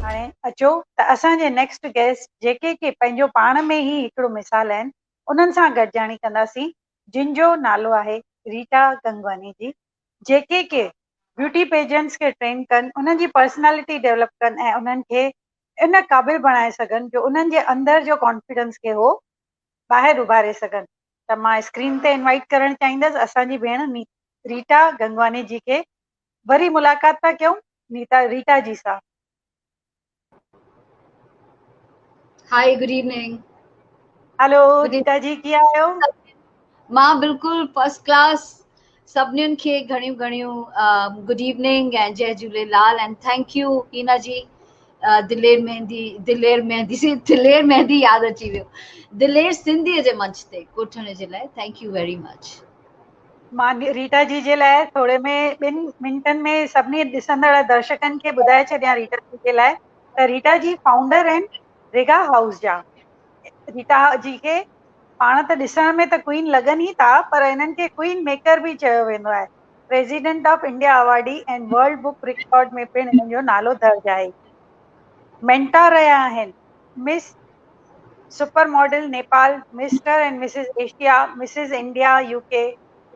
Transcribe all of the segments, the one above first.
هاڻي اچو ته اسان جي نيڪسٽ گيسٽ جيڪي ڪي پنهنجو پاڻ ۾ ئي هڪڙو مثال آهن انهن سان گڏجاڻي ڪنداسين جن جو نالو آهي ريٽا گنگواني جي جيڪي ڪي بيوٽي پيجنٽس کي ٽرين ڪن، انهن جي پرسنالٽي ڊيولپ ڪن ۽ انهن کي ان قابل بڻائي سگهن جو انهن جي اندر جو ڪانفيڊنس کي هو ٻاهر اڀاري سگهن ته مان اسڪرين تي انوائيٽ ڪرڻ چاهيندس اسان جي ڀيڻ ريٽا گنگواني جي کي وري ملاقات ٿا ڪيون نيتا ريٽا جي سان. Hi good evening hello Rita ji ڪي آهيو مان بلڪل فرسٽ ڪلاس سڀنين کي گهڻيون گهڻيون گڊ ايوننگ ۽ جي جهوليلال ۽ ٿينڪ يو هينا جي دلير مهندي دلير مهندي سي دلير مهندي ياد اچي ويو دلير سنڌي جي منچ تي ڪوٺڻ جي لاء ٿينڪ يو ويري مچ مان ريٽا جي جي لاء ٿوري ۾ ٻن منٽن ۾ سڀني ڏسندڙ درشڪن کي ٻڌائي ڇڏيان ريٽا جي جي لاء ته ريٽا جي فائونڊر آهن ريگا هائوس جا ريٽا جي کي پاڻ ته ڏسڻ ۾ ته ڪوئين لڳن ئي ٿا پر انهن کي ڪوئين ميڪر به چيو ويندو آهي president of India awardee ۽ world book record ۾ پڻ انهن جو نالو درج آهي مينٽا رهيا آهن miss super model Nepal, Mr ۽ Mrs Asia, Mrs India UK،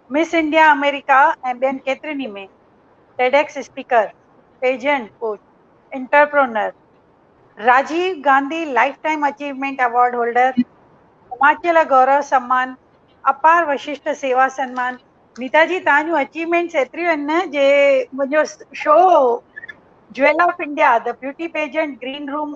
miss India آمريڪا ۽ ٻين ڪيترين ئي ۾ TEDx speaker, agent coach, entrepreneur, Rajiv Gandhi lifetime achievement award holder, Himachal Gaurav Samman, اپار وششٽ سيوا سنمان. نيتا جي توهان جون اچيومينٽس ايتريون آهن نه جي منهنجو show jewel of India, The Beauty Pageant Green Room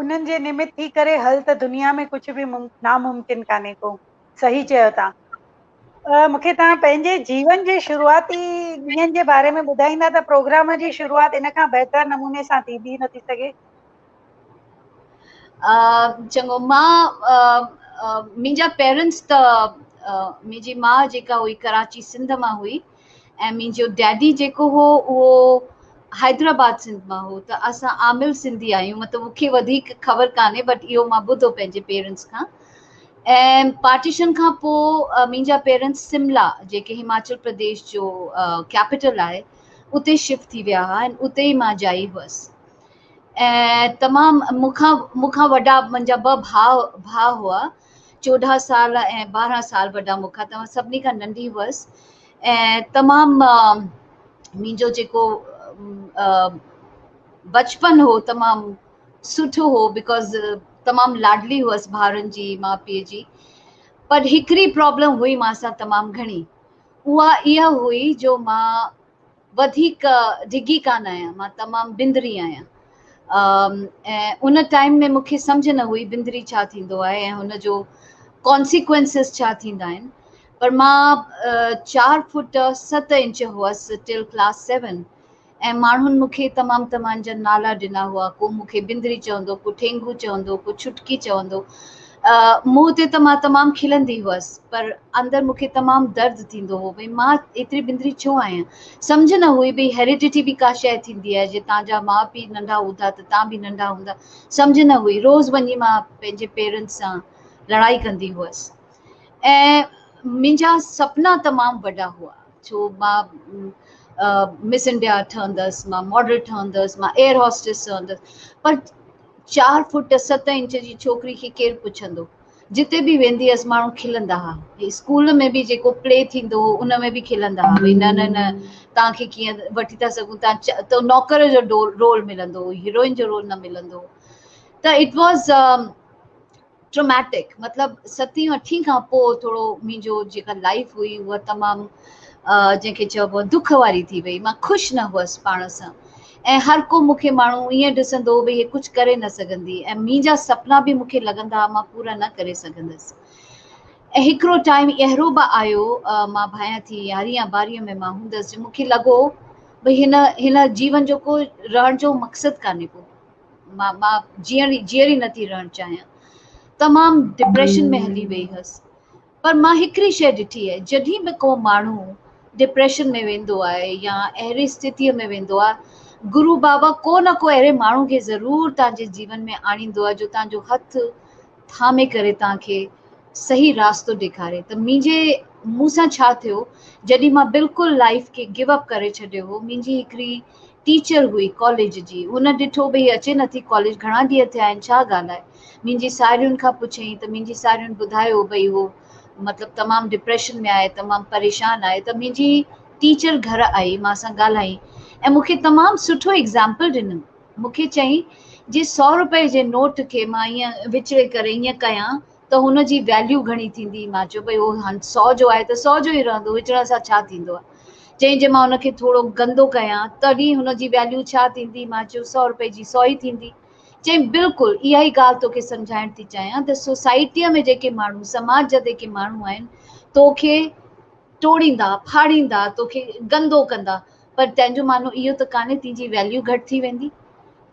انهن جي نمت ٿي ڪري هل ته دنيا ۾ ڪجهه به ناممڪن ڪانهي ڪو صحيح چيو تان مون کي تان پنهنجي جيون جي شروعاتي ڏينهن جي باري ۾ ٻڌائيندا ته پروگرام جي شروعات ان کان بهتر نموني سان ٿي به نٿي سگهي چڱو مان منهنجا پيرنٽس ته منهنجي ماء جيڪا هئي ڪراچي سنڌ مان هئي ۽ منهنجو ڊيڊي جيڪو هو اهو حيدرآباد سنڌ مان هو ته اسان عامل سنڌي آهيون مطلب مون کي وڌيڪ خبر ڪانهي بٽ اهو مان ٻڌو پنهنجي پيرنٽس کان ۽ پارٽيشن کان پوء منهنجا پيرنٽس سملا جيڪي هماچل پرديش جو ڪيپيٽل آهي اتي شفٽ ٿي ويا هئا ۽ اتي ئي مان جائي هئس ۽ تمام مون کان مون کان وڏا منهنجا ٻه ڀاء ڀاء هئا چوڏهن سال ۽ ٻارهن سال وڏا مون کان توهان سڀني کان ننڍي هئس ۽ تمام منهنجو جيڪو بچپن هو تمام سٺو هو بڪاز تمام لاڏلي هئس ڀائرن جي ماء پيء جي پر هڪڙي پرابلم هئي مان سان تمام گهڻي اها اها هئي جو مان وڌيڪ ڊگهي ڪانه آهيان، مان تمام بندري آهيان ۽ ان ٽائيم ۾ مون کي سمجهه نه هئي بندري ڇا ٿيندو آهي ۽ ان جو Consequences ڇا ٿيندا آهن پر مان چار فوٽ ست انچ هئس Till Class Seven ۽ ماڻهن مون کي تمام تمان جا نالا ڏنا هئا ڪو مون کي بندري چوندو ڪو ٺينگو چوندو ڪو ڇٽڪي چوندو منهن تي ته مان تمام کلندي هئس پر اندر مون کي تمام درد ٿيندو هو ڀئي مان ايتري بندري ڇو آهيان سمجهه نه هئي ڀئي هيريڊٽي به ڪا شيء ٿيندي آهي جي تان جا ماء پيء ننڍا هوندا ته تان به ننڍا هوندا سمجهه نه هئي روز وڃي مان پنهنجي پيرنٽس سان لڙائي ڪندي هئس ۽ منهنجا سپنا تمام وڏا هئا ڇو مان مس انڊيا ٺهندس مان ماڊل ٺهندس مان ايئر هاسٽس ٺهندس پر چار فوٽ ست انچ جي ڇوڪري کي ڪير پڇندو. جتي به ويندي هئس ماڻهو کلندا ها. اسڪول ۾ به جيڪو پلي ٿيندو هو ان ۾ به کلندا ها ڀئي نه نه نه توهان کي ڪيئن وٺي ٿا سگهون توهان چ تو نوڪر جو ڊول رول ملندو هو هيروئن جو رول نه ملندو هو ته اٽ واز ٽراميٽڪ مطلب ستين اٺين کان پوء ٿورو منهنجو جيڪا لائيف هئي اها تمام جنهن کي چئبو دک واري ٿي وئي مان خوش نه هئس پاڻ سان ۽ هر ڪو مون کي ماڻهو ائين ڏسندو هو ڀي هي ڪجهه ڪري نه سگهندي ۽ منهنجا سپنا به مون کي لڳندا مان پورا نه ڪري سگهندس ۽ هڪڙو ٽائيم اهرو به آيو مان ڀايان ٿي يارهين يا ٻارهين ۾ مان هوندس جو مون کي لڳو ڀي هن هن جيون جو ڪو رهڻ جو مقصد ڪانهي ڪو مان مان جيئڻ ئي جيئري نه ٿي رهڻ چاهيان تمام ڊپريشن ۾ هلي وئي هيس پر مان هڪڙي شيء ڏٺي آهي جڏهن به ڪو ماڻهو ڊپريشن ۾ ويندو آهي يا اهڙي استيتيء ۾ ويندو آهي گرو بابا ڪو نه ڪو اهڙي ماڻهو کي ضرور توهان جي جيون ۾ آڻيندو آهي جو توهان جو هٿ ٿامي ڪري توهان کي صحيح راستو ڏيکاري ته منهنجي مون سان ڇا ٿيو جڏهن مان بلڪل لائيف کي گو اپ ڪري ڇڏيو هو منهنجي هڪڙي ٽيچر هئي ڪاليج جي. هن ڏٺو به هي اچي نٿي ڪاليج گهڻا ڏينهن ٿيا آهن ڇا ڳالهه آهي. منهنجي ساهيڙين کان پڇيائين ته منهنجي ساهيڙين ٻڌايو ڀئي هو مطلب تمام ڊپريشن ۾ آهي تمام پريشان آهي ته منهنجي ٽيچر گهر آئي مان سان ڳالهائين ۽ مون کي تمام سٺو ايگزامپل ڏنم مون کي چيائين جي سؤ روپئي جي نوٽ کي مان ائين وچڙي ڪري ائين ڪيان ته هن جي ويليو گهڻي ٿيندي. مان چيو ڀئي هو هنڌ سو جو آهي ته سو جو ئي رهندو، وچڙڻ سان ڇا ٿيندو آهي. چيائين جي مان هن کي ٿورو گندو ڪيان تڏهن هن جي ويليو ڇا ٿيندي. مان چيو سؤ روپئي جي سو ئي ٿيندي. چيائين بلڪل اها ئي ڳالهه توکي سمجهائڻ ٿي چاهيان ته سوسائٽيء ۾ جيڪي ماڻهو سماج جا جيڪي ماڻهو آهن توکي ٽوڙيندا، ڦاڙيندا، توکي گندو ڪندا، پر تنهن جو معنو اهو ته ڪانهي تنهنجي ويليو گهٽ ٿي ويندي.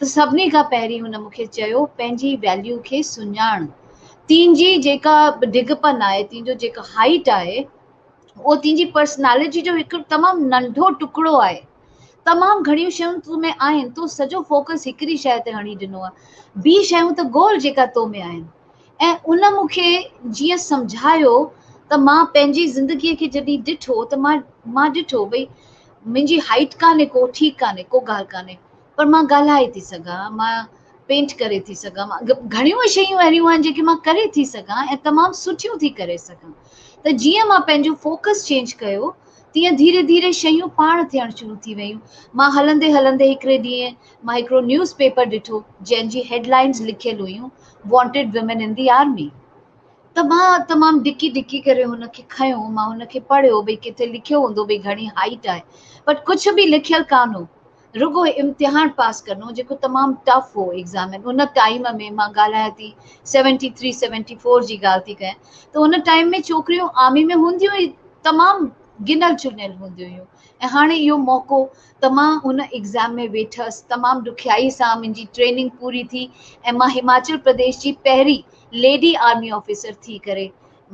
ته سڀني کان پهرين هن مون کي چيو پنهنجي ويليو کي سڃاڻ. تنهنجي جيڪا ڊگهپن آهي، تنهنجو جيڪا هائيٽ آهي، اهو تنهنجي پرسنالٽي جو هڪ تمام ننڍو ٽڪڙو آهي. تمام گهڻيون شيون تو ۾ آهن، تو سڄو فوڪس هڪڙي شيء تي هڻي ڏنو آهي. ٻي شيون ته گول جيڪا تو ۾ آهن. ۽ ان مون کي جيئن سمجهايو ته مان پنهنجي زندگيء کي جڏهن ڏٺو ته مان مان ڏٺو ڀئي منهنجي هائيٽ ڪانهي ڪو ٺيڪ ڪانهي ڪو ڳالهه ڪانهي پر مان ڳالهائي ٿي سگهان مان پينٽ ڪري ٿي سگهان گهڻيون شيون اهڙيون آهن جيڪي مان ڪري ٿي سگهان ۽ تمام سٺيون ٿي ڪري سگهان ته جيئن مان پنهنجو فوڪس چينج ڪيو تيئن ڌيري ڌيري شيون پاڻ ٿيڻ شروع ٿي ويون مان هلندي هلندي هڪڙي ڏينهن مان هڪڙو نيوز پيپر ڏٺو جنهن جي هيڊ لائينز لکيل هيون wanted women in the army ته مان تمام ڊڪي ڊڪي ڪري هن کي کنيو مان هن کي پڙهيو ڀئي ڪٿي لکيو هوندو ڀئي گهڻي هائيٽ آهي بٽ ڪجهه به لکيل ڪانه هو رڳو امتحان پاس ڪرڻو جيڪو تمام ٽف هو ايگزامين ان ٽائيم ۾ مان ڳالهايان ٿي سيونٽي ٿري سيونٽي فور جي ڳالهه ٿي ڪيان ته ان ٽائيم ۾ ڇوڪريون آرمي ۾ هونديون ئي تمام گنل چنيل هونديون هيون ۽ هاڻي اهو موقعو ته مان ان ايگزام ۾ ويٺس، تمام ڏکيائي سان منهنجي ٽريننگ پوري ٿي ۽ مان هماچل پرديش جي پهرين ليڊي آرمي آفيسر ٿي ڪري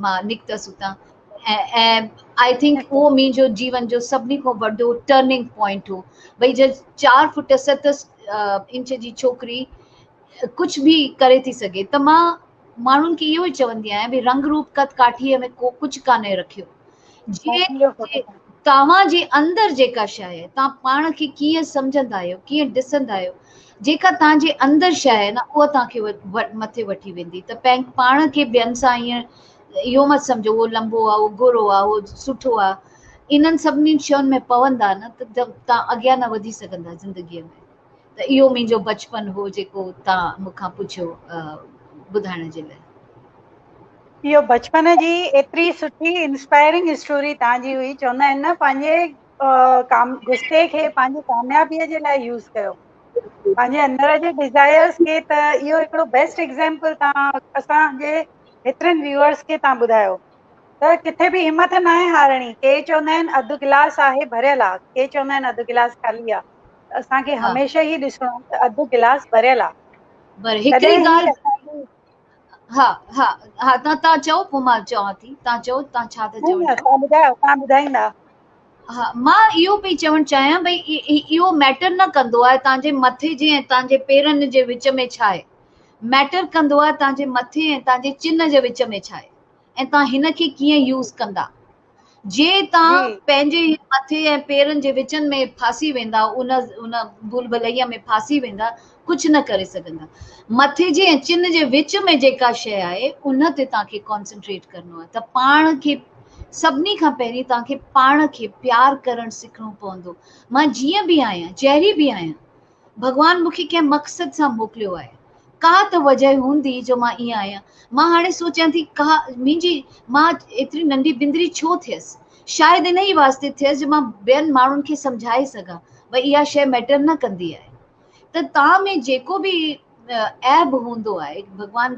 مان نڪتس اتان ۽ آئي ٿنڪ اهو منهنجو جيون جو سڀني کان وڏو ٽرننگ پوائنٽ هو ڀئي جي چار فٽ ست انچ جي ڇوڪري ڪجهه به ڪري ٿي سگهي ته مان ماڻهن کي اهو ئي چوندي آهيان ڀي رنگ روپ قد ڪاٺيء ۾ ڪو ڪجهه ڪانهي رکيو جي توهان جي اندر جيڪا شيء آهي توهان پاڻ کي ڪيئن سمجهندا آهيو ڪيئن ڏسندا آهيو جيڪا توهان جي اندر شيء آهي نه اها توهان کي مٿي وٺي ويندي ته پنهنجي پاڻ کي ٻين سان ائين اهو مت سمجهو اهو لنبو آهي اهو گورو آهي اهو سٺو آهي انهن سڀني شين ۾ پوندا نه ته توهان اڳيان نه وڌي سگهندا زندگيء ۾ ته اهو منهنجو بچپن هو جيڪو تان مون کان پڇيو ٻڌائڻ جي لاء. اهو بچپن جي ايتري سٺي انسپائرنگ اسٽوري تان جي هئي چوندا آهن نه پنهنجي غصي کي پنهنجي ڪاميابي جي لاء يوز ڪيو پنهنجي اندر جي ڊزائرس کي ته اهو هڪڙو بيسٽ ايگزامپل تان اسان جي هيترن ويورس کي تان ٻڌايو ته ڪٿي به همٿ ناهي هارڻي ڪي چوندا آهن اڌ گلاس آهي ڀريل آ ڪي چوندا آهن اڌ گلاس خالي آ اسان کي ها هميشه هي ڏسڻو آ ته اڌ گلاس ڀريل آ. پر هڪڙي تڏهن هي ڳالهه اسان جي ها ها ها تان تان چئو پو مان چوان ٿي تان چئو تان ڇا ٿا نه چوڻ نه چاهيو تان ٻڌايو تان ٻڌائيندا. ها مان اهو پئي چوڻ چاهيان ڀئي اهو ميٽر نه ڪندو آهي تان جي مٿي جي ۽ تان جي پيرن جي وچ ۾ ڇا آهي ميٽر ڪندو آهي تان جي مٿي ۽ تان جي چن جي وچ ۾ ڇا آهي. ۽ توهان هن کي ڪيئن يوز ڪندا جي توهان پنهنجي مٿي ۽ پيرن جي وچن ۾ ڦاسي ويندا ان ان ڀول ڀلئي ۾ ڦاسي ويندا ڪجهه نه ڪري سگهندا مٿي جي ۽ چن جي وچ ۾ جيڪا شيء آهي ان تي توهان کي ڪانسنٽريٽ ڪرڻو آهي ته پاڻ کي سڀني کان پهرين توهان کي پاڻ کي پيار ڪرڻ سکڻو پوندو مان جيئن به آهيان جهڙي به آهيان ڀڳوان مون کي ڪنهن مقصد سان موڪليو آهي. ڪا ته وجهه هوندي جو مان ائين آهيان. مان هاڻي سوچيان ٿي ڪا منهنجي مان ايتري ننڍي بندري ڇو ٿيس. شايد انهيء واسطي ٿيس جو مان ٻين ماڻهن کي سمجهائي سگهان ۽ اها شيء ميٽر نه ڪندي آهي ته تان ۾ جيڪو به عيب هوندو آهي ڀڳوان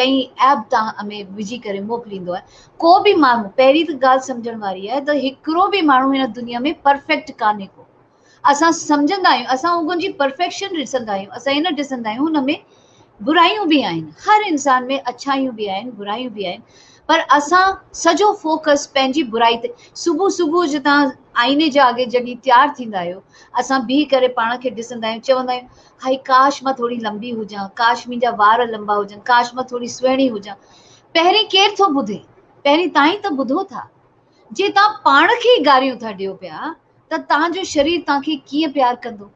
ڪئين عيب تان ۾ وجهي ڪري موڪليندو آهي. ڪو به ماڻهو پهرين ته ڳالهه سمجهڻ واري آهي ته هڪڙو به ماڻهو هن دنيا ۾ پرفيڪٽ ڪانهي ڪو. اسان سمجهندا آهيون، اسان اوگن جي پرفيڪشن ڏسندا آهيون، اسان هي نه ڏسندا آهيون هن ۾ برايون به آهن، هر انسان ۾ اڇايون به آهن، برايون به آهن، پر اسان سڄو فوڪس پنهنجي برائي تي، صبح صبح جو تان آئيني جي آڳي جڏهن تيار ٿيندا آهيو، اسان بيهي ڪري پاڻ کي ڏسندا آهيون، چوندا آهيون هائي ڪاش مان ٿوري لنبي هجان، ڪاش منهنجا وار لنبا هجن، ڪاش مان ٿوري سهڻي هجان، پهرين ڪير ٿو ٻڌي، پهرين تان ئي ته ٻڌو ٿا، جي تان پاڻ کي ئي گاريون ٿا ڏيو پيا. ته توهان جو شرير توهان کي ڪيئن پيار ڪندو.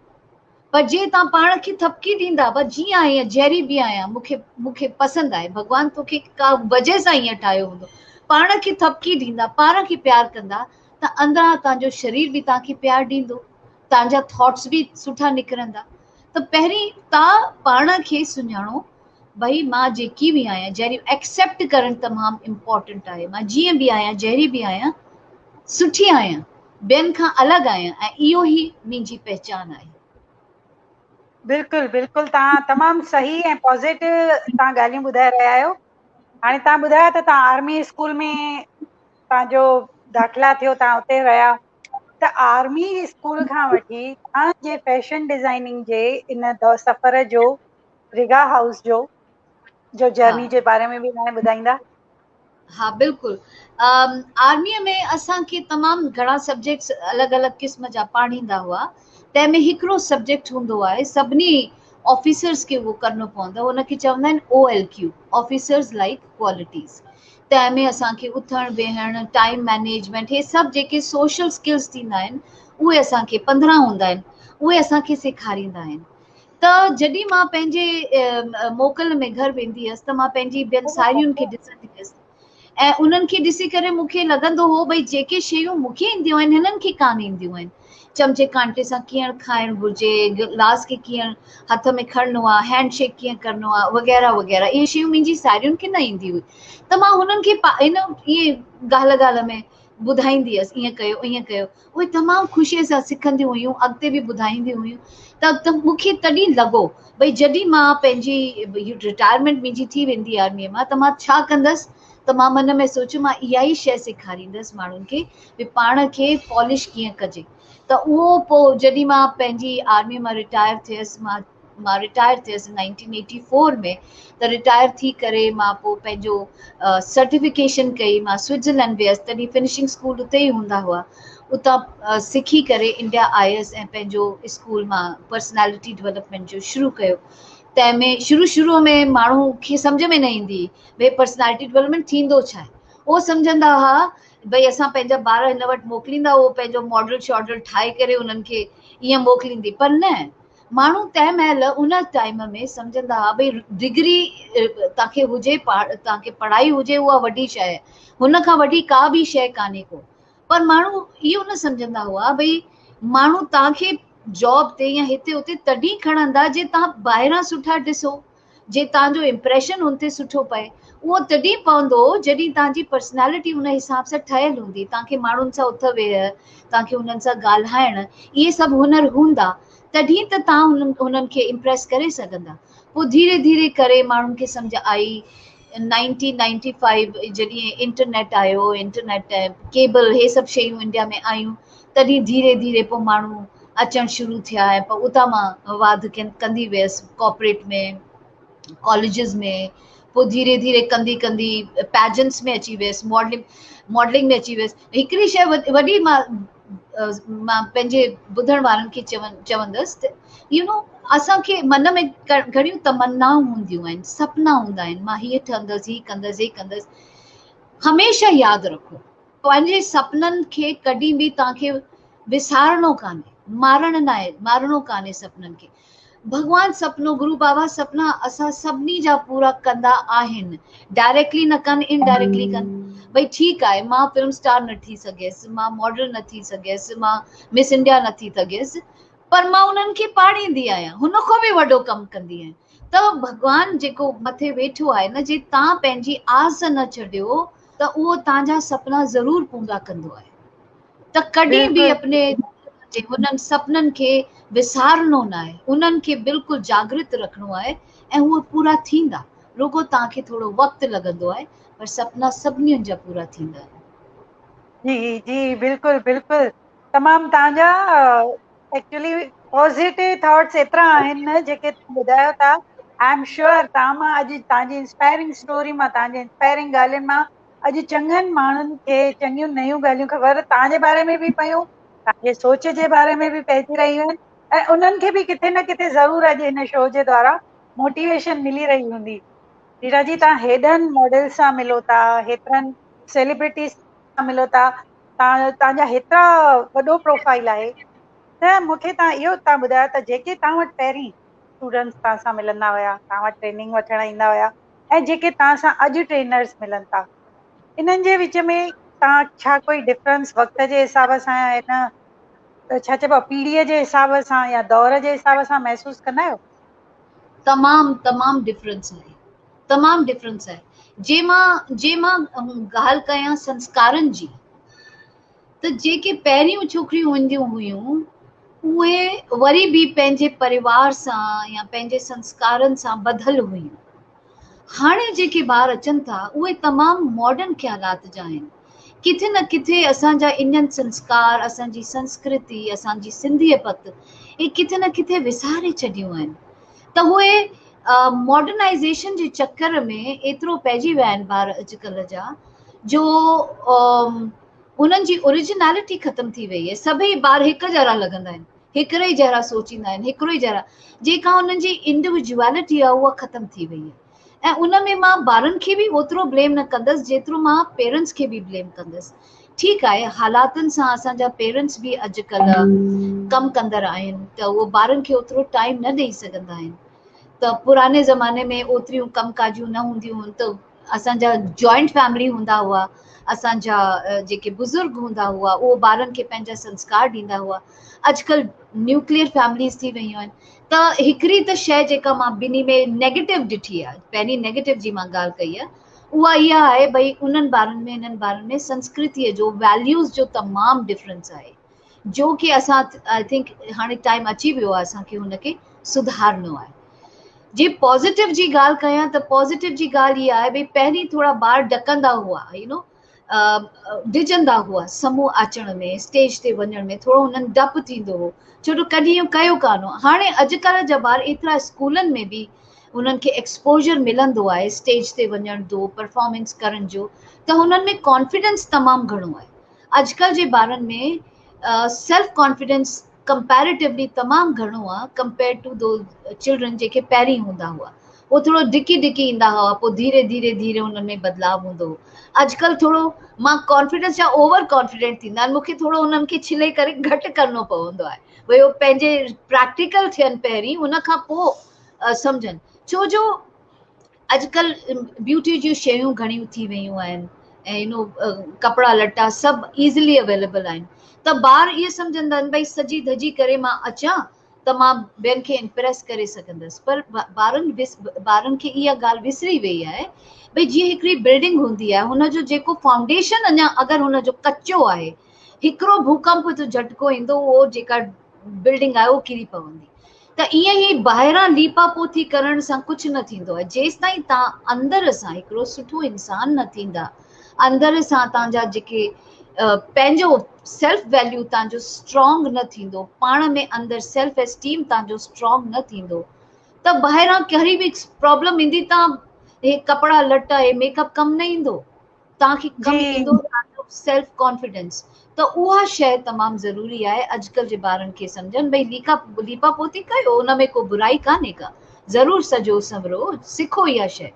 پر جي توهان پاڻ کي ٿڦڪي ڏيندا بس جيئن آهيان جهڙي به آهيان مون کي مون کي پسند آهي ڀڳوان تو کي ڪا وجهه سان ايئن ٺاهيو هوندو پاڻ کي ٿڦڪي ڏيندا پاڻ کي پيار ڪندا ته اندران توهان جو شرير به توهان کي پيار ڏيندو توهان جا ٿاٽس به سٺا نڪرندا ته پهرين تان پاڻ کي سڃاڻو ڀئي مان جيڪي به آهيان جهري ايڪسيپٽ ڪرڻ تمام امپورٽنٽ آهي مان جيئن به آهيان جهري به آهيان سٺي آهيان ٻين کان الڳ آهيان ۽ اهو هي منهنجي پهچان آهي. بلڪل بلڪل تان تمام صحيح ۽ پازيٽو تان ڳالهيون ٻڌائي رهيا آهيو هاڻي تان ٻڌايو ته تان آرمي اسڪول ۾ تان جو داخلا ٿيو تان اتي رهيا ته آرمي اسڪول کان وٺي ھاڻ جي فيشن ڊزائننگ جي ان دور سفر جو رگا ھائوس جو جو ھا جرني جي باري ۾ به ھاڻ ٻڌائيندا ھا بلڪل ا آرمي ۾ اسانکي تمام گھڻا سبجيڪٽس الڳ الڳ قسم جا پاڙھيندا ھئا تنهن ۾ ھڪڙو سبجيڪٽ ھوندو آھي سڀني آفيسرس کي اھو ڪرڻو پوندو آھي ان کي چوندا آھن O L Q officers like qualities تنهن ۾ اسان کي اٿڻ ويهڻ ٽائيم مينيجمينٽ هي سڀ جيڪي سوشل اسڪلس ٿيندا آهن اهي اسان کي پندرهن هوندا آهن اهي اسان کي سيکاريندا آهن ته جڏهن مان پنهنجي موڪل ۾ گهر ويندي هيس ته مان پنهنجي ٻين ساهيڙين کي ڏسندي هيس ۽ انهن کي ڏسي ڪري مون کي لڳندو هو ڀئي جيڪي شيون مون کي اينديون آهن هنن کي ڪانه اينديون آهن چمچي ڪانٽي سان ڪيئن کائڻ گهرجي، گلاس کي ڪيئن هٿ ۾ کڻڻو آهي، هينڊ شيڪ ڪيئن ڪرڻو آهي وغيره وغيره اهي شيون منهنجي ساهيڙين کي نه ايندي هئي ته مان هنن کي ان ائين ڳالهه ڳالهه ۾ ٻڌائيندي هيس ائين ڪيو ائين ڪيو اهي تمام خوشي سان سکنديون هيون اڳتي به ٻڌائينديون هيون ته مون کي تڏهن لڳو ڀئي جڏهن مان پنهنجي رٽائرمينٽ منهنجي ٿي ويندي آرميء مان ته مان ڇا ڪندس ته مان من ۾ سوچيو مان اها ئي شيء سيکاريندس ماڻهن کي به پاڻ کي پالش ڪيئن ڪجي ته اهو پوء جڏهن مان پنهنجي آرمي مان رٽائر ٿيس مان مان رٽائر ٿيس نائنٽين ايٽي فور ۾ ته رٽائر ٿي ڪري مان پوء پنهنجو سرٽيفڪيشن ڪئي مان سوئٽزرلينڊ ويس تڏهن فنشنگ اسڪول اتي ئي هوندا هئا اتان سکي ڪري انڊيا آيس ۽ پنهنجو اسڪول مان پرسنالٽي ڊولپمينٽ جو شروع ڪيو تنهن ۾ شروع شروع ۾ ماڻهو کي سمجھ ۾ نه ايندي هئي ڀي پرسنالٽي ڊولپمينٽ ٿيندو ڇا آهي هو سمجھندا هئا ڀئي اسان پنهنجا ٻار هن وٽ موڪليندا هو پنهنجو ماڊل شاڊل ٺاهي ڪري انهن کي ائين موڪليندي پر نه ماڻهو تنهن مهل ان ٽائيم ۾ سمجهندا ها ڀئي ڊگري تان کي هجي تان کي پڙهائي هجي اها وڏي شاهي هن کان وڏي ڪا به شاهي ڪانهي ڪو پر ماڻهو اهو نه سمجهندا هئا ڀئي ماڻهو تان کي جاب تي يا هتي هتي تڏهن کڻندا جي تان ٻاهران سٺا ڏسو جي توهان جو امپريشن هن تي سٺو پئي اهو تڏهن پوندو جڏهن توهان جي پرسنالٽي ان حساب سان ٺهيل هوندي توهان کي ماڻهن سان اٿ ويهه توهان کي انهن سان ڳالهائڻ اهي سڀ هنر هوندا تڏهن ته توهان انهن کي امپريس ڪري سگهندا پوء ڌيري ڌيري ڪري ماڻهن کي سمجهه آئي نائنٽين نائنٽي فائيو جڏهن انٽرنيٽ آيو انٽرنيٽ ۽ ڪيبل هي سڀ شيون انڊيا ۾ آيون تڏهن ڌيري ڌيري پوء ماڻهو اچڻ شروع ٿيا ۽ پوء اتان مان واڌ ڪندي ويس ڪاپريٽ ۾ ڪاليجز ۾ پوء ڌيري ڌيري ڪندي ڪندي پيجنس ۾ اچي ويس ماڊلنگ ماڊلنگ ۾ اچي ويس هڪڙي شيء وڏي مان مان پنهنجي ٻڌڻ وارن کي چوندس ته يو نو اسان کي من ۾ گهڻيون تمنائون هونديون آهن سپنا هوندا آهن مان هيء ٺهندس هي ڪندس هي ڪندس هميشه ياد رکو پنهنجي سپنن کي ڪڏهن به توهان کي وسارڻو ڪانهي مارڻ نه آهي مارڻو ڪانهي سپنن کي ڀڳوان سپنو گرو بابا سپنا اسان سڀني جا پورا ڪندا آهن ڊائريڪٽلي نه ڪن ان ڊائريڪٽلي ڪن ڀئي ٺيڪ آهي مان فلم اسٽار نه ٺھي سگهيس مان ماڊل نه ٿي سگهيس مان مس انڊيا نه ٿي سگهيس پر مان انهن کي پاڙيندي آهيان هن کان به وڏو ڪم ڪندي آهيان ته ڀڳوان جيڪو مٿي ويٺو آهي نه جي تان پنهنجي آس نه ڇڏيو ته اهو تان جا سپنا ضرور پورا ڪندو آهي ته ڪڏهن به اپني جي انهن سپنن کي وسارڻو نه آهي انهن کي بلڪل جاگرت رکڻو آهي ۽ هو پورا ٿيندا رڳو توهان کي ٿورو وقت لڳندو آهي پر سپنا سڀنين جا پورا ٿيندا آهن. جي جي بلڪل بلڪل تمام توهان جا ايڪچولي پوزيٽو ٿاٽس ايترا آهن نه جيڪي توهان ٻڌايو ٿا آئي ايم شيور توهان مان اڄ توهان جي انسپائرنگ اسٽوري مان توهان جي انسپائرنگ ڳالهين مان اڄ چڱن ماڻهن کي چڱيون نيون ڳالهيون خبر توهان جي باري ۾ به پيون، توهان جي سوچ جي باري ۾ به پئجي رهيون آهن ۽ انهن کي به ڪٿي نه ڪٿي ضرور اڄ هن شو جي دوارا موٽيويشن ملي رهي هوندي. ريٽا جي توهان هيڏن ماڊلز سان ملو ٿا، هيترن سيليبرٽيز سان ملو ٿا، توهان جا هيترا وڏو پروفائيل آهي ته مون کي توهان اهو اتان ٻڌايو ته جيڪي توهان وٽ پهرين اسٽوڊنٽس توهان سان ملندا هيا، توهان وٽ ٽريننگ وٺڻ ايندا هيا، ۽ جيڪي توهان سان اڄ ٽرينرز ملن ٿا انهن جي وچ ۾ توهان ڇا ڪوئي ڊفرنس وقت جي حساب سان يا ان ڇا چئبو آهي پيڙهيء جي حساب سان يا دور جي حساب سان محسوس ڪندا آهيو؟ تمام تمام ڊفرنس آهي تمام ڊفرنس آهي جي مان جي مان ڳالهه ڪيان سنسڪارن جي ته جيڪي پهريون ڇوڪريون هونديون هيون اهي وري به پنهنجي پريوار سان يا پنهنجي سنسڪارن سان ٻڌل هيون هاڻي جيڪي ٻار اچن ٿا اهي تمام ماڊرن خيالات جا آهن ڪٿي نه ڪٿي اسان جا انڊين سنسڪار اسان جي سنسڪرتي اسان جي سنڌي پت اهي ڪٿي نه ڪٿي وساري ڇڏيون آهن ته اهي ماڊرنائزيشن جي چڪر ۾ ايترو پئجي ويا آهن ٻار اڄڪلهه جا جو انهن جي اوريجنالٽي ختم ٿي وئي آهي سڀئي ٻار هڪ جهڙا لڳندا آهن هڪڙي جهڙا سوچيندا آهن هڪڙو ئي جهڙا جيڪا انهن جي انڊويجوالٽي آهي اها ختم ٿي وئي آهي ۽ ان ۾ مان ٻارن کي به اوترو بليم نه ڪندس جيترو مان پيرنٽس کي به بليم ڪندس ٺيڪ آهي حالاتن سان اسان جا پيرنٽس به اڄڪلهه ڪم ڪندڙ آهن ته اهو ٻارن کي اوترو ٽائيم نه ڏئي سگهندا آهن ته پراڻي زماني ۾ اوتريون ڪم ڪاجيون نه هونديون هن ته اسان جا جوائنٽ فيملي هوندا هئا اسان جا جيڪي بزرگ هوندا هئا اهو ٻارن کي پنهنجا سنسڪار ڏيندا هئا اڄڪلهه نيوڪليئر فيمليز ٿي ويون آهن ته هڪڙي ته شي جيڪا مان ٻنهي ۾ نيگيٽو ڏٺي آهي پهرين نيگيٽو جي مان ڳالهه ڪئي آهي اها اها آهي ڀئي انهن ٻارن ۾ هنن ٻارن ۾ سنسڪرتيء جو ويليوز جو تمام ڊفرنس آهي جو ڪي اسان آئي ٿنڪ هاڻي ٽائيم اچي ويو آهي اسان کي ان کي سڌارڻو آهي جي پازيٽو جي ڳالهه ڪيان ته پازيٽو جي ڳالهه هي آهي ڀي پهرين ٿورا ٻار ڊڪندا هئا يو نو ڊجندا هئا سموه اچڻ ۾ اسٽيج تي وڃڻ ۾ ٿورو هنن ڊپ ٿيندو هو ڇو جو ڪڏهن اهو ڪيو ڪانه هو هاڻي اڄڪلهه جا ٻار ايترا اسڪولن ۾ به انهن کي ایڪسپوجر ملندو آهي اسٽيج تي وڃڻ جو پرفارمنس ڪرڻ جو ته هنن ۾ ڪانفيڊنس تمام گهڻو آهي اڄڪلهه جي ٻارن ۾ سيلف ڪانفيڊنس ڪمپيريٽوولي تمام گهڻو آ ڪمپيئرڊ ٽو دو چلڊرن جيڪي پهرين هوندا هئا هو ٿورو ڊڪي ڊڪي ايندا هئا پوء ڌيري ڌيري ڌيري انهن ۾ بدلاء هوندو هو اڄڪلهه ٿورو مان ڪانفيڊنس جا اوور ڪانفيڊنٽ ٿيندا آهن مونکي ٿورو انهن کي ڇلي ڪري گهٽ ڪرڻو پوندو آهي ڀئي هو پنهنجي پريڪٽيڪل ٿين پهرين ان کان پوء سمجهن ڇو جو اڄڪلھ بيوٽي جون شيون گھڻيون ٿي ويون آھن ۽ ڪپڙا لٽا سڀ ايزلي اويليبل آھن ته ٻار اھي سمجھندا آھن بھي سجي ڌجي ڪري مان اچان ته مان ٻين کي امپريس ڪري سگھندس پر ٻارن ٻارن کي اھا ڳالھ وسري وئي آھي بھي جيئن ھڪڙي بلڊنگ ھوندي آھي ھن جو جيڪو فائونڊيشن اڃا اگر ھن جو ڪچو آھي ھڪڙو ڀوڪمپ جو جھٽڪو ايندو اھو جيڪا بلڊنگ آھي اھو ڪري پوندي ته ائين ئي ٻاهران ليپا پوٿي ڪرڻ سان ڪجهه نه ٿيندو آهي، جيستائين توهان اندر سان هڪڙو سٺو انسان نه ٿيندا، اندر سان توهان جا جيڪي پنهنجو سيلف ويليو توهان جو اسٽرانگ نه ٿيندو، پاڻ ۾ اندر سيلف اسٽيم توهان جو اسٽرانگ نه ٿيندو ته ٻاهران ڪهڙي به پرابلم ايندي توهان هي ڪپڙا لٽا هي ميڪ اپ ڪم نه ايندو. توهان کي ڪم جي ايندو توهان جو سيلف ڪانفيڊنس ته اها شيء تمام ضروري آهي اڄڪلهه جي ٻارن کي سمجهن ڀئي ليکا ليپا پوتي ڪيو ان ۾ ڪو برائي ڪانهي ڪا ضرور سجو سنورو سکو اها شيء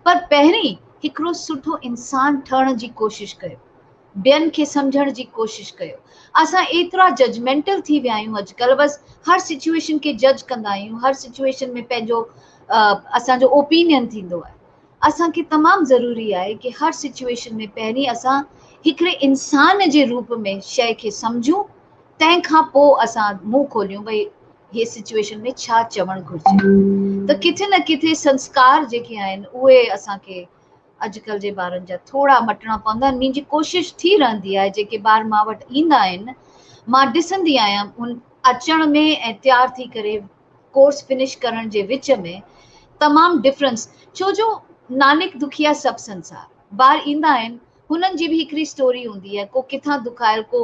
پر پهرين هڪڙو سٺو انسان ٺهڻ جي ڪوشش ڪيو ٻين کي سمجهڻ جي ڪوشش ڪيو اسان ايترا ججمينٽل ٿي ويا آهيون اڄڪلهه بس هر سچويشن کي جج ڪندا آهيون هر سچويشن ۾ پنهنجو اسان جو اوپينين ٿيندو آهي اسان کي تمام ضروري آهي ڪي هر سچوئيشن ۾ پهرين اسان هڪڙي انسان جي روپ ۾ شئي کي سمجهون تنهن کان پو اسان منهن کوليون ڀئي هي سچوئيشن ۾ ڇا چوڻ گهرجي ته ڪٿي نه ڪٿي سنسڪار جيڪي آهن اهي اسان کي اڄڪلهه جي ٻارن جا ٿورا مٽڻا پوندا آهن منهنجي ڪوشش ٿي رهندي آهي جيڪي ٻار مان وٽ ايندا آهن مان ڏسندي آهيان ان اچڻ ۾ ۽ تيار ٿي ڪري ڪورس فنش ڪرڻ جي وچ ۾ تمام ڊفرنس ڇو جو نانڪ دکيا سڀ سنسار ٻار ايندا آهن هنن جي به هڪڙي اسٽوري هوندي آهي ڪو ڪٿان دکايل ڪو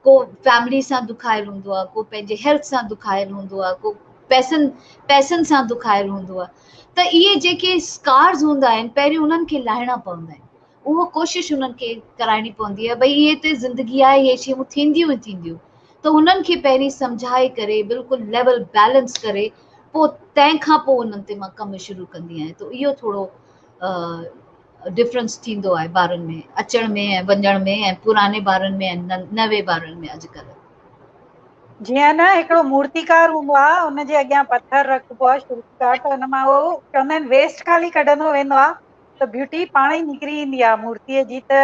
ڪو فيملي سان دکايل هوندو آهي ڪو پنهنجي هيلٿ سان دکايل هوندو آهي ڪو پئسن پئسن سان دکايل هوندو آهي ته اهي جيڪي اسڪارز هوندا آهن پهريون انهن کي لاهڻا پوندا آهن اهو ڪوشش هنن کي ڪرائڻي پوندي ته ڀئي هي ته زندگي آهي هي شيون ٿينديون ئي ٿينديون ته هنن کي پهرين سمجهائي ڪري بلڪل ليول بيلنس ڪري پوء تنهن کان پوء هنن تي مان ڪم شروع ڪندي آهيان ته اهو ٿورو ڊفرنس ٿيندو آهي ٻارن ۾ اچڻ ۾ ۽ وڃڻ ۾ ۽ پراني ٻارن ۾ ۽ نوي ٻارن ۾ اڄڪلهه جيئن نه هڪڙو مورتيڪار هوندو آهي ان جي اڳيان پٿر رکبو آهي شروع ڪار ته ان مان اهو چوندا آهن ويسٽ خالي ڪڍندو ويندو آهي ته بيوٽي پاڻ ئي نڪري ايندي آهي مورتيء جي ته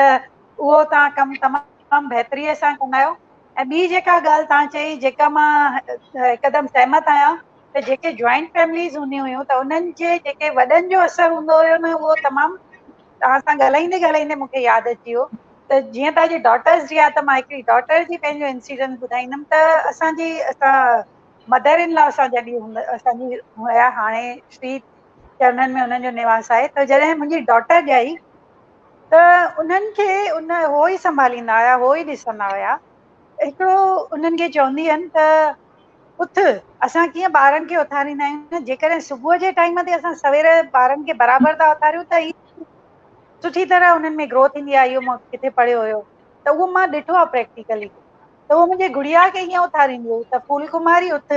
اهو توهان ڪم تمام بهتريء سان ڪندا آهيو ۽ ٻي جيڪا ڳالهه توهان چئي جيڪا مان هڪدم سهمت آهيان ته جيڪي جوائنٽ فيمليز هونديون هيون ته انهن جي جيڪي وڏن جو اثر هوندو هيو نه اهو تمام توهان سان ڳالهائيندي ڳالهائيندي مون کي ياد اچي ويو ته جيئن توهان جي ڊاٽرس جي آهي ته مان هڪڙي ڊاٽر جي پنهنجو انسيڊنٽ ٻڌائيندم ته اسان جي اسان مدر ان لا اسان جڏهن اسان جي هيا هاڻي شري جرمن ۾ انهن جو نواس آهي ته جڏهن منهنجي ڊاٽر ڄائي ته انهن کي ان هو ئي سنڀاليندا هيا هو ئي ڏسندا هيا هڪڙو انهن کي چوندي هن ته اٿ اسان ڪيئن ٻارن کي اٿاريندا آهيون جيڪڏهن صبح جي ٽائيم تي اسان سوير ٻارن کي برابر ٿا اٿاريون ته سٺي طرح انهن ۾ گرو ٿيندي آهي اهو مون ڪٿي پڙهيو هيو ته اهو مان ڏٺو آهي پريڪٽيڪلي ته اهو منهنجي گڙيا کي ائين اٿاريندي هئي ته ڦول ڪماري اٿ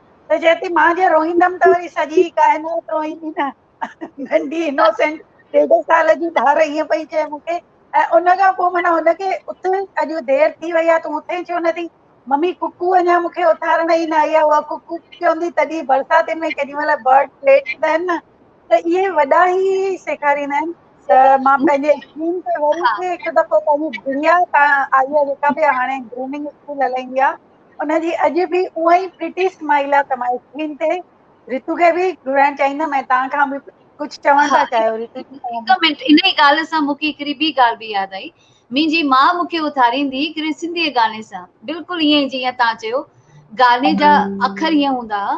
ته چئي ٿي مان جي روئيندم ته وري سڄي ڪائنات روئيندي نه ننڍي انوسينٽ ڏيڍ سال جي ڌار ائين پئي چئي مون کي ۽ ان کان پوء مانا هن کي اٿ اڄ دير ٿي وئي آهي تون اٿين ڇو نه ٿي ممي ڪڪو اڃا مون کي اٿارڻ ئي نه آئي آهي اها ڪڪو چوندي تڏهن برساتين ۾ ڪيڏي مهل برڊ ليٽ ٿيندا آهن نه ته اهي وڏا ئي سيکاريندا آهن ته مان پنهنجي اسڪول تي وري کي هڪ دفعو پنهنجي دنيا تان آئي آهي جيڪا به هاڻي گرومنگ اسڪول هلائيندي آهي ان جي اڄ به اها ئي پرٽي اسمائيل آ ته مان اسڪرين تي رتو کي به گهرائڻ چاهيندم ۽ توهان کان به ڪجهه چوڻ ها ٿا هڪ چاهيو رتو جي توهان به منٽ ان ئي ڳالهه سان مون کي هڪڙي ٻي ڳالهه به ياد آئي منهنجي ماء مون کي اٿاريندي هڪڙي سنڌي گاني سان بلڪل ائين ئي جيئن توهان چيو گاني جا اکر ائين هوندا ها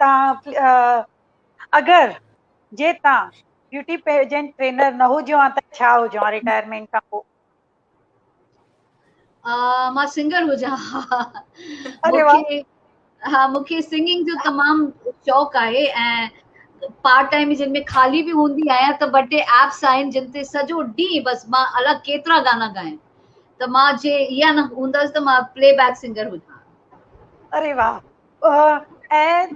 تان اگر جي تان بيوٽي پيجنٽ ٽرينر نه هجو ها ته ڇا هجو ها ريٽائرمينٽ کان پوء مان سنگر هجان ها مونکي سنگنگ جو تمام شوق آهي ۽ پارٽ ٽائيم جن ۾ خالي به هوندي آهيان ته ٻه ٽي ايپس آهن جن تي سڄو ڏينهن بس مان الڳ ڪيترا گانا ڳايان ته مان جي اها نه هوندس ته مان پلي بيڪ سنگر هجان اري واھ ۽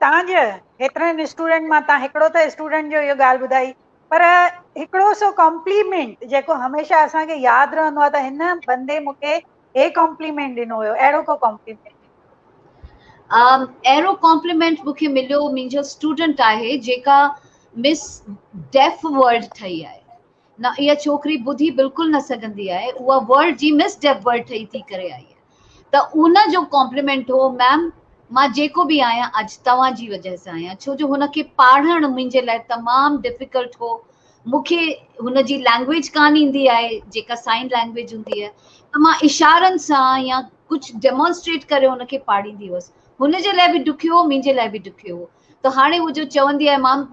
تهان جي هيترن اسٽوڊنٽ مان تهان هڪڙو ته اسٽوڊنٽ جو اهو ڳالهه ٻڌائي پر هڪڙو سو ڪمپليمينٽ جيڪو هميشه اسان کي ياد رهندو آ ته هن بندي مون کي هي ڪمپليمينٽ ڏنو هيو اهڙو ڪو ڪمپليمينٽ اهڙو ڪمپليمينٽ مون کي مليو منهنجو اسٽوڊنٽ آهي جيڪا مس ڊيف ورلڊ ٺهي آهي نه اها ڇوڪري ٻڌي بلڪل نه سگهندي آهي اها ورلڊ جي مس ڊيف ورلڊ ٺهي ٿي ڪري آئي آهي ته ان جو ڪامپليمينٽ هو ميم مان جيڪو به آهيان اڄ توهان جي وجه سان آهيان ڇو جو هن کي پاڙهڻ منهنجي لاء تمام ڊفيڪلٽ هو مون کي هن جي لينگويج ڪانه ايندي آهي جيڪا سائن لينگويج هوندي آهي ته مان اشارن سان يا ڪجهه ڊيمونسٽريٽ ڪري هن کي پاڙهيندي هئس هن جي لاء به ڏکيو هو منهنجي لاء به ڏکيو هو ته هاڻي هو جو چوندي آهي امام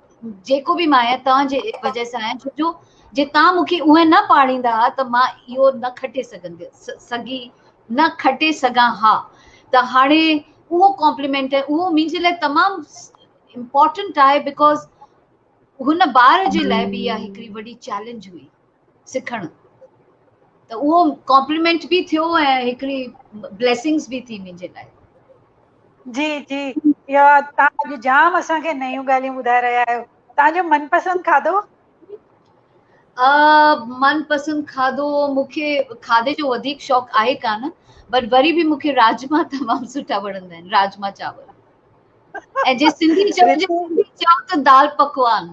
جيڪو به مان آهيان توهان جي وجه سان آهيان ڇو جي تان مون کي اونهين نه پاڙيندا ها ته مان اهو نه کٽي سگهندي سگهي نه کٽي سگهان ها ته هاڻي اهو ڪمپليمينٽ آهي اهو منهنجي لاء تمام امپورٽنٽ آهي بڪوز هن ٻار جي لاء به اها هڪڙي وڏي چيلنج هئي سکڻ ته اهو ڪامپليمنٽ به ٿيو ۽ هڪڙي بليسنگز به ٿي منهنجي لاء جي جي يا تان جو جام اسان کي نيون ڳالهيون ٻڌائي رهيا آهيو تان جو من پسند کاڌو ا من پسند کاڌو مونکي کاڌي جو وڌيڪ شوق آهي ڪان بٽ وري به مونکي راجما تمام سٺا وڻندا آهن راجما چاور ۽ جي سنڌي چون ته دال پڪوان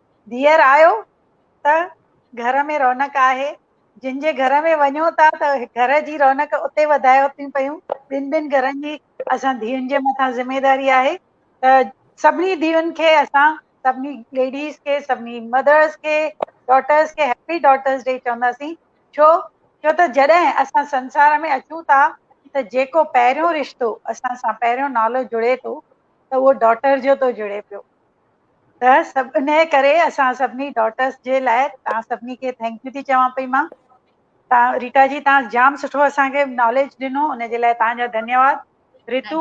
ڌيئر آيو ته گهر ۾ رونق آهي، جن جي گهر ۾ وڃو ٿا ته گهر جي رونق اتي وڌايو ٿيون پيون، ٻن ٻن گهرن جي اسان ڌيئن جي مٿان ذميداري آهي ته سڀني ڌيئن کي اسان سڀني ليڊيز کي سڀني مدرس کي ڊاٽرس کي هيپي ڊاٽرس ڊي چونداسين ڇو ڇو ته جڏهن اسان سنسار ۾ اچون ٿا ته جيڪو پهريون رشتو اسان سان پهريون نالو جڙي ٿو ته اهو ڊاٽر جو ٿو جڙي پيو ته سڀ انهي ڪري اسان سڀني ڊاٽرس جي لاء تان سڀني کي ٿينڪ يو ٿي چوان پئي مان تا ريٽا جي تان جام سٺو اسان کي ناليج ڏنو ان جي لاء تان جا ڌنيواد ريتو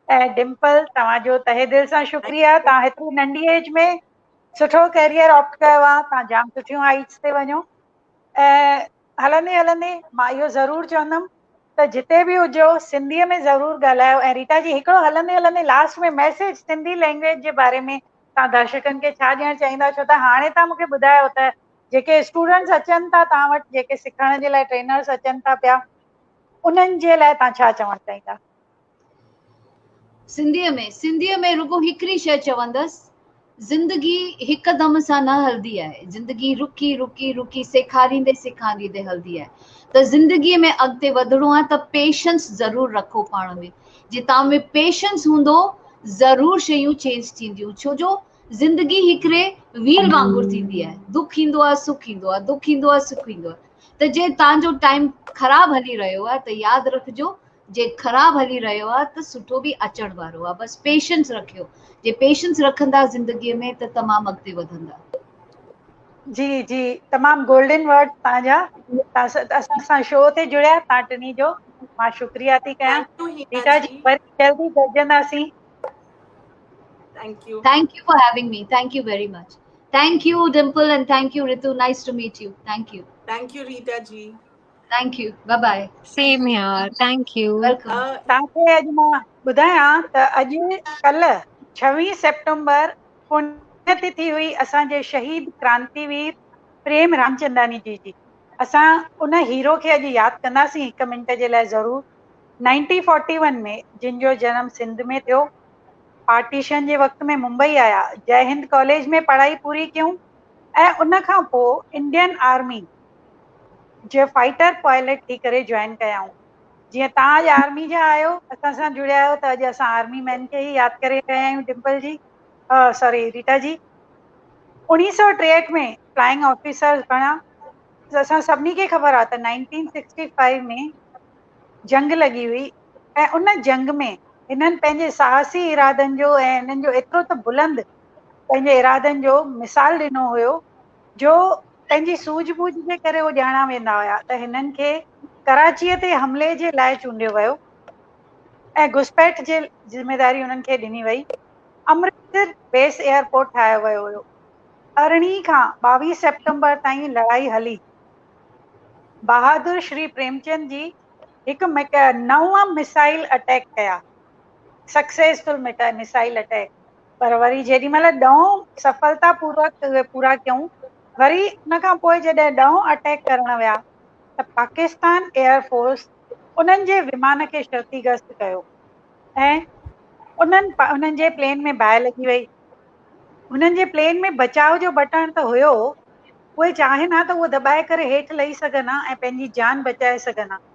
۽ ڊمپل توهان جو تهه دل سان شڪريا تان هتري ننڍي ايج ۾ سٺو ڪيريئر آپٽ ڪيو آ تان جام سٺيون هائيٽس تي وڃو ۽ هلندي هلندي مان اهو ضرور چوندم ته جتي به هجو سنڌي ۾ ضرور ڳالهايو ۽ ريٽا جي هڪڙو هلندي هلندي لاسٽ ۾ ميسيج سنڌي لينگويج جي باري ۾ توهان درشڪن کي ڇا ڏيڻ چاهيندا ڇو ته هاڻي توهان مونکي ٻڌايو ته جيڪي اسٽوڊنٽس اچن ٿا توهان وٽ جيڪي سکڻ جي لاء ٽرينرس اچن ٿا پيا انهن جي لاء توهان ڇا چوڻ چاهيندا سنڌيء ۾، سنڌيء ۾ رڳو هڪڙي شيء چوندس، زندگي هڪ دم سان نه هلدي آهي، زندگي رڪي رڪي رڪي سيکاريندي سيکاريندي هلدي آهي ته زندگي ۾ اڳتي وڌڻو آهي ته پيشنس ضرور رکو پاڻ ۾ جي توهان ۾ پيشنس هوندو ضرور شيون چينج ٿينديون ڇو جو زندگي هڪڙي ويل وانگر ٿيندي آهي دک ايندو آهي سک ايندو آهي دک ايندو آهي سک ايندو آهي ته جي توهان جو ٽائيم خراب هلي رهيو آهي ته ياد رکجو جي خراب هلي رهيو آ ته سٺو به اچڻ وارو آ بس پيشنس رکيو جي پيشنس رکندا زندگي ۾ ته تمام اڳتي وڌندا. جي جي تمام گولڊن ورڊ تان جا تان اسان سان شو تي جڙيا تان ٽني جو مان شڪريا ٿي ڪيان ريٽا جي وري جلدي گڏجندا سين thank you thank you for having me thank you very much thank you Dimple and thank you Ritu nice to meet you thank you thank you Rita ji thank you bye bye same here thank you welcome تان کي اڄ مان ٻڌايان ته اڄ ڪلهه ڇويهين September Poonia تي ٿي هئي اسان جي شهيد ڪرانتي وير پريم رامچنداني جي جي اسان ان هيرو کي اڄ ياد ڪنداسين هڪ منٽ جي لاء ضرور نائنٽي فورٽي ون ۾ جن جو جنم سنڌ ۾ ٿيو پارٽيشن جي وقت ۾ ممبئي آيا جئه هند ڪاليج ۾ پڙهائي پوري ڪيون ۽ ان کان پوء انڊين آرمي جي فائٽر پائلٽ ٿي ڪري جوائن ڪيائون. جيئن توهان اڄ آرمي جا آهيو، اسان سان جڙيا آهيو ته اڄ اسان آرمي مين کي ئي ياد ڪري رهيا آهيون ڊمپل جي ساري ريٽا جي. اوڻيهه سؤ ٽيهٺ ۾ فلائنگ آفيسرز بڻيا. اسان سڀني کي خبر آهي ته نائنٽين سڪسٽي فائيو ۾ جنگ لڳي هئي ۽ ان جنگ ۾ هنن پنهنجي ساهسي ارادن جو ۽ هنن جو ايترو ته بلند پنهنجي ارادن جو مثال ڏنو هيو جو پنهنجي سوجهه ٻوجهه جي ڪري هو ڄاڻا ويندا هيا ته هنن کي ڪراچيء تي حملي جي لاء چونڊيو ويو ۽ گهسپيٺ جي ذميواري انهن کي ڏني وئي. امرتسر بيس ايئرپورٽ ٺاهيو ويو هيو. ارڙهين کان ٻاويهه سيپٽمبر تائين لڙائي هلي. بهادر شري پريمچند جي هڪ مڪ نو مسائل اٽيڪ ڪيا، سڪسيسفل مٽائي مسائل اٽيڪ. پر وري جيڏي مهل ڏهون سڦلتا پوروڪ اهي پورا ڪيون، وري ان کان پوء جڏهن ڏهون اٽيڪ ڪرڻ ويا ته پاڪستان ايئر فورس انهن جي ومان کي شرطيگست ڪيو ۽ انهن انهن جي پلين ۾ باهه لڳي وئي. هنن جي پلين ۾ بچاء جو بٽڻ ته هيو، اهي چاهين ها ته اهو دٻائي ڪري هيٺ لهي سگهن ها ۽ پنهنجي جان بچائي سگهن ها.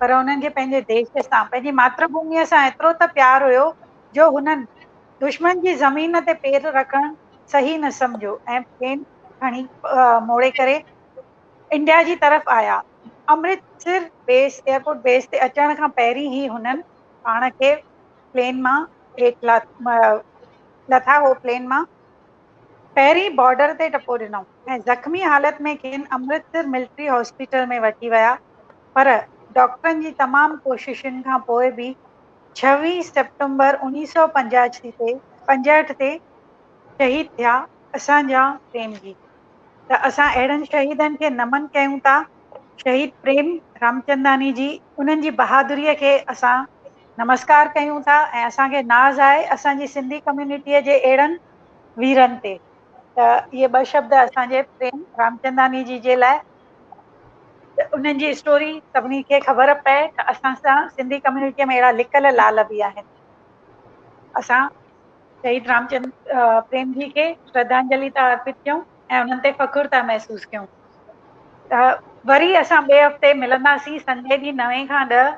پر هنن کي پنهنجي ديش سان، پنهنجي ماتر ڀوميء سان ايترو ته پيار هيو جو هنن دشمن جي زمين تي پير رکڻ صحيح نه سمجهيو ۽ پلين کڻي موڙي ڪري انڊيا جي طرف آيا. امرتسر بيس، ايئرپورٽ بيس، تي اچڻ کان پهرين ئي هنن پاڻ کي پلين مان هيٺ لٿا هو پلين مان پهرين بارڊر تي ٽپو ڏنائون. ۽ زخمي حالت ۾ کين امرتسر ملٽري هاسپيٽل ۾ وٺي ويا پر ڊاڪٽرن جي تمام ڪوششن کان پوء به ڇويهه سيپٽمبر اوڻيهه سؤ پنجاهٺ تي پنجهٺ تي شهيد ٿيا اسان جا پريم جي ته اسان اهڙن شهيدن کي نمن ڪيون ٿا شهيد پريم رامچنداني جي انهن جي بهادري کي اسان نمسڪار ڪيون ٿا ۽ اسان کي ناز آهي اسان جي سنڌي ڪميونٽي جي اهڙن ويرن تي. ته اهي ٻه شبد اسان جي پريم رامچنداني جي جي لاء انهن جي اسٽوري سڀني کي خبر پئي ته اسان سان سنڌي ڪميونٽيء ۾ اهڙا لڪل لعل به آهن اسان شهيد رامچند پريم جي کي شرڌانجلي ٿا ارپت ڪيون ۽ انهن تي فخر ٿا محسوس ڪيون ته وري اسان ٻئي هفتي ملنداسين سنڊي ڏينهن نوين کان ڏهه